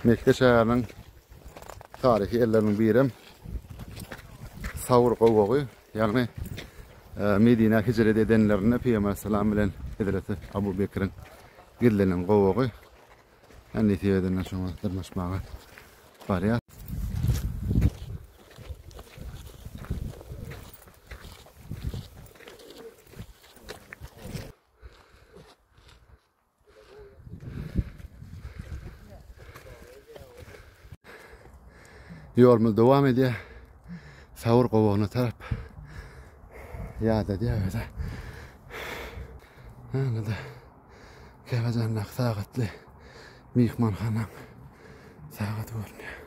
Mekge şäheriniň taryhy ýerleriniň biri hem Sawr gowagy, ýagny e, Medinä hijret edenlerinde Pygamber salam bilen Hezreti Abu Bekriň gizlenen gowagy. Hänli sebedenden şoňa dyrmaşmaga barýar. Ýolumyz dowam edýär. Sawur gowagyna tarap. Ýada diýäwerde. Handa. Käbäjanda sagatly myhmanhana sagat görünýär.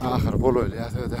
Ahir golaýlýar söze.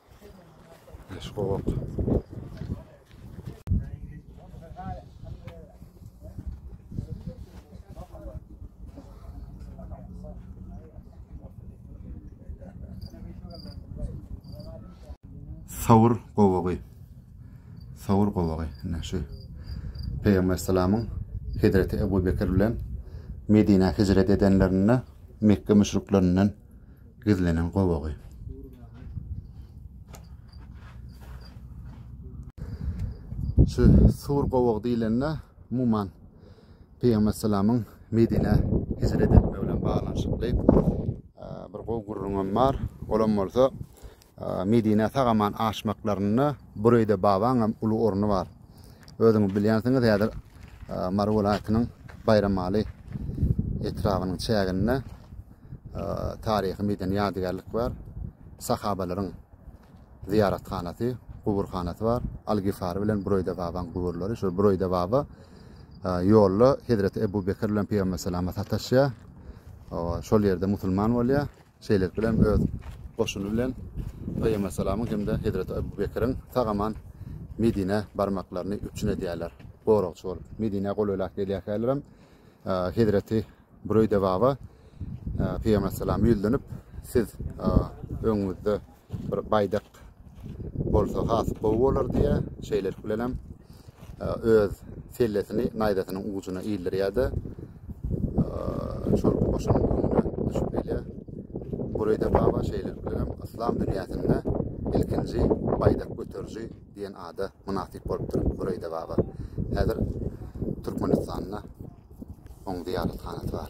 Beş gowak. Sawur gowagy. Sawur gowagy. Ine şu. Peygamber salamyň Hezreti Ebu Bekir bilen Medine hicret edenlerinde Mekke müşriklerinden gizlenen gowagy. Şu Sur gowag diýlende umuman Pygamber salamyň Medine hijret etmegi bilen baglanyşykly bir gowy gürrüňem bar. Olam bolsa Medinä sag-aman aşmaklarynda Bureýde babaňam uly orny bar. Özüňiz bilýänsiňiz, häzir Mary welaýatynyň Baýramaly etrabynyň çäginde taryhy-medeni ýadygärlik bar. Sahabalaryň zyýarathanasy, guburhanasy bar. Al-Gifari bilen Bureýde babaň guburlary. Şol Bureýde baba ýolda Hezreti Ebu Bekir bilen Pygamber salama sataşýar. Şol ýerde musulman bolýar. Şeýlelik bilen öz goşuny bilen Peýgambersalamyň hem-de Hezreti Ebu Bekiriň sag-aman Medinä barmaklaryny üpjün edýärler, goragçy bolup. Medinä golaýlap gelýärkälerem Hezreti Bureýde baba Peýgambersalama ýüzlenip, Siz öňüňizde bir baýdak bolsa has gowy bolar diýýär. Şeýlelik bilen hem e, öz sellesini naýzasynyň ujuna ildirýär-de, e, şol goşunyň öňüne düşüp gelýär. Burayda baba şeýlelik bilen hem yslam dünýäsinde ilkinji baýdak göteriji diýen ada mynasyp bolupdyr Burayda baba. Häzir Türkmenistanda oň zyýarathanasy bar.